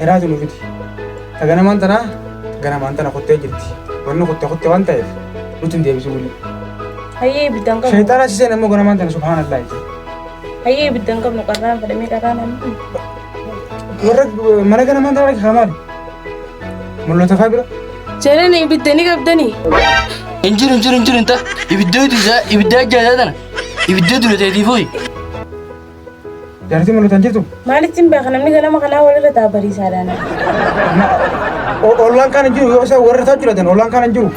Hiraatu nu fidi. Ta ganamaan tanaa ta ganamaan tana kuttee jirti. Wanni kutte kutte waan ta'eef nutti hin deebisu wuli. Hayyee ibidda hin qabnu. Shayxaana si seen ammoo ganamaan tana subhaanallah itti. Hayyee ibidda hin qabnu qarraan fedhamee qarraan ammoo. Warra mana ganamaan tana rakki kaamaadha. Mul'ata faa bira. Jaalala ibidda ni qabdanii? Hin jiru hin jiru hin jiru hin ta'a. Ibiddoo duudaa ibiddaa jaataa tana. Ibiddoo duudaa ta'eetii fuuyi. Jaartii mul'atu hin jirtu? Maalittiin beeka namni ganama kanaa walirra ta'a bariisaadhaan. Ollaan kaan hin jiru yoo isa warra isaa jiraatan ollaan kaan hin jiru.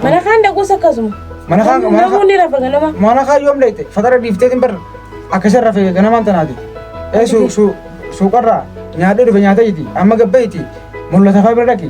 Mana kaan dhaquus akkasuma. Mana kaan mana Namuu ni rafa ganama. mana kaan yoom dheeyte fatara dhiiftee hin barre akka isa rafe ganamaan tanaati. Ee suuqarraa nyaadhee dhufe nyaatee jiti amma gabbeeyti mul'ata faa bira dhaqi.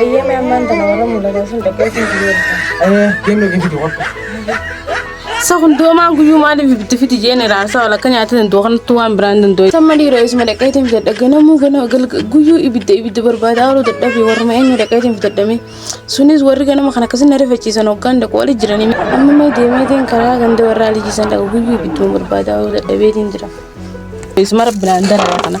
Eeyyamee ammaan tana warra mul'atan sun dhaqee sun biyyoota. Kennu gifitu qofti. Sa hundoomaan guyyuu maaliif ibiddi fiti jeen iraarsaa wal akka nyaata danda'u kanatti waan biraan danda'u. Samma dhiiroo isuma dhaqeetiin fidadha ganamuu gana galga- guyyuu ibidda ibidda barbaadaa ooluu dadhabe warruma eenyu dhaqeetiin fidadhame. Sunis warri ganama kana akkasii na rifachiisan hoggaan dhaqu wali jiranii. Amma mee deemeetiin karaa ganda warraa lijiisan dhaqa guyyuu ibidduma barbaadaa ooluu dadhabeetiin jira. Isma rabbinaan darara kana.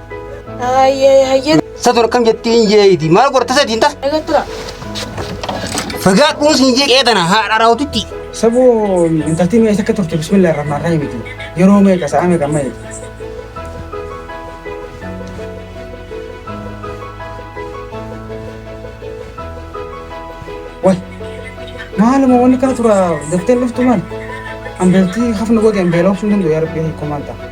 Hayyee hayyee Satu akkam jettiin jeeti. Maal gorta sadiin tas. eegattura. Fagaadhuun siin jeeqee tana haadha raawwatitti. Sabuu intaltii mee isa akka turte bismillah irraa maarraa himiti. Yeroo meeqa sa'a meeqa amma eegdi. Wai maaluma wanni kana tura daftee laftu maal? Ambeeltii hafna godhe ambeelaa obsuun danda'u yaa rabbi hiikoo maal ta'a?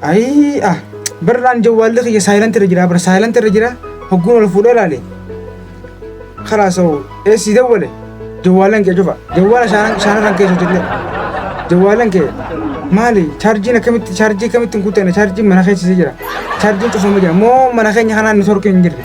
Ayii ah barraan jawwaalli kiyya saayilanti irra jira bara saayilanti irra jira hogguun ol fuudhee laale. Kalaas hoo eessii dawwale jawwaalan kee cufa jawwaala shaanan shaanarran kee sotillee jawwaalan kee maali chaarjiin akkamitti chaarjii akkamitti hin kuttane chaarjiin mana keessisee jira chaarjiin cufamee jira moo mana keenya kanaan ni sorkee hin jirre.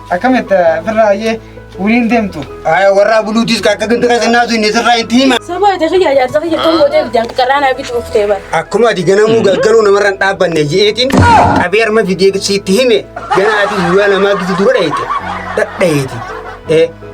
Akkamitti firraa ayyee waliin deemtu? Aya warraa buluutiis akka ganda qasannaasu inni sirraa itti hima. Sabaa ta'e kiyyaa jaarsa kiyya kan gootee bitaan qaraan haa bitu uftee bara. Akkuma ati ganamuu galgaluu namarra hin dhaabbanne jeetiin qabee harma fidee sitti hime ganaa ati guyyaa namaa gidi dura dhayite dhadhayeeti.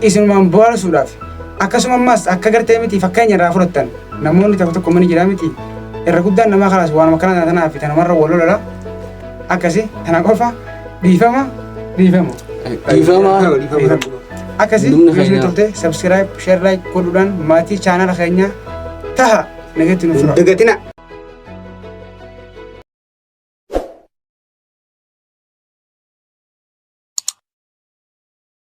isinumaan bohaarsuudhaaf akkasuma ammaas akka gartee miti fakkeenya irraa fudhattan namoonni tokko tokko mani jiraa miti irra guddaan namaa kanaas waanuma kana tanaa fi tanumarra wal lola akkasi tana qofa dhiifama dhiifama. Dhiifama. Akkasi Dhumni viidiyoo keenyaa. turte subscribe share like godhuudhaan maatii chaanala keenyaa taha nageetti nuuf tura. Dagatina.